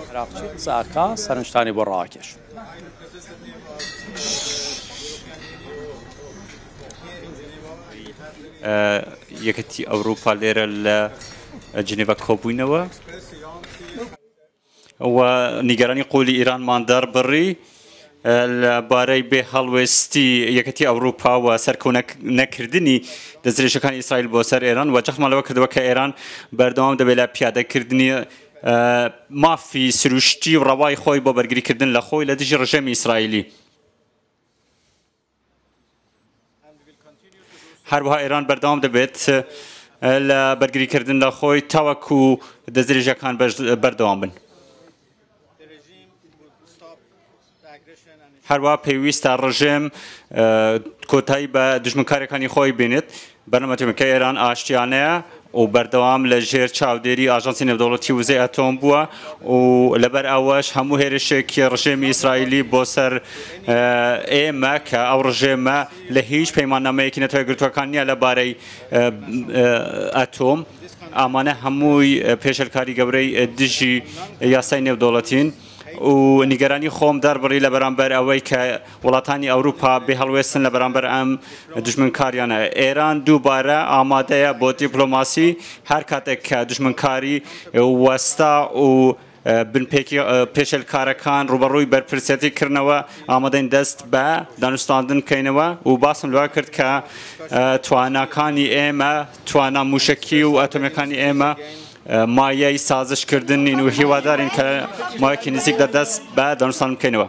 عێراقچی قسە ئەکا سەرنجتانی بۆ ڕاکێش. یەکەتی ئەوروپا لێرە لە جنێڤ کۆبووینەوە. و نیگەرانی قووڵی ئیرانمان دەربڕی لە بارەی بێ هەڵوێستی یەکێتی ئەوروپا و سەرکۆ نەکردنی دەستدرێژیەکانی ئیسرائیل بۆ سەر ئێران و جەختمان لەوە کردەوە کە ئێران بەردەوام دەبێت لە پیادەکردنی مافی سروشتی و ڕەوای خۆی بۆ بەرگریکردن لە خۆی لە دژی ڕژێمی ئیسرائیلی. هەروەها ئێران بەردەوام دەبێت لە بەرگریکردن لە خۆی تاوەکو دەستدرێژیەکان بەردەوام بن. هەروە پێویستە ڕژێم کۆتایی بە دژمنکارەکانی خۆی بێنێت بەرنامەکەی ئێران ئاشتیانەیە و بەردەوام لە ژێر چاودێری ئاژانسی نێودەوڵەتی وزەی ئەتۆم بووە و لەبەر ئەوەش هەموو هێرشێکی ڕژێمی ئیسرائیلی بۆ سەر ئێمە کە ئەو ڕژێمە لە هیچ پەیماننامەیەکی نەتەوە گرتووەکان نییە لەبارەی ئەتۆم ئەمانە هەمووی پێشێلکاری گەورەی دژی یاسای نێودەوڵەتین. و نیگەرانی خۆم دەربڕی لە بەرامبەر ئەوەی کە وڵاتانی ئەوروپا بێ هەڵوێستن لە بەرامبەر ئەم دوژمنکاریانە. ئێران دووبارە ئامادەیە بۆ دیپلۆماسی هەر کاتێک کە دوژمنکاری وەستا و بنپێکی پێشێلکارەکان ڕووبەڕووی بەرپرسیەتی کردنەوە، ئامادەین دەست بە دانوستاندن بکەینەوە و باسم لەوە کرد کە تواناکانی ئێمە، توانا مووشەکی و ئەتۆمیەکانی ئێمە، مایەی سازش کردن نین و هیوادارین کە مایەکی نزیک دە دەست بە دانوستان بکەینەوە.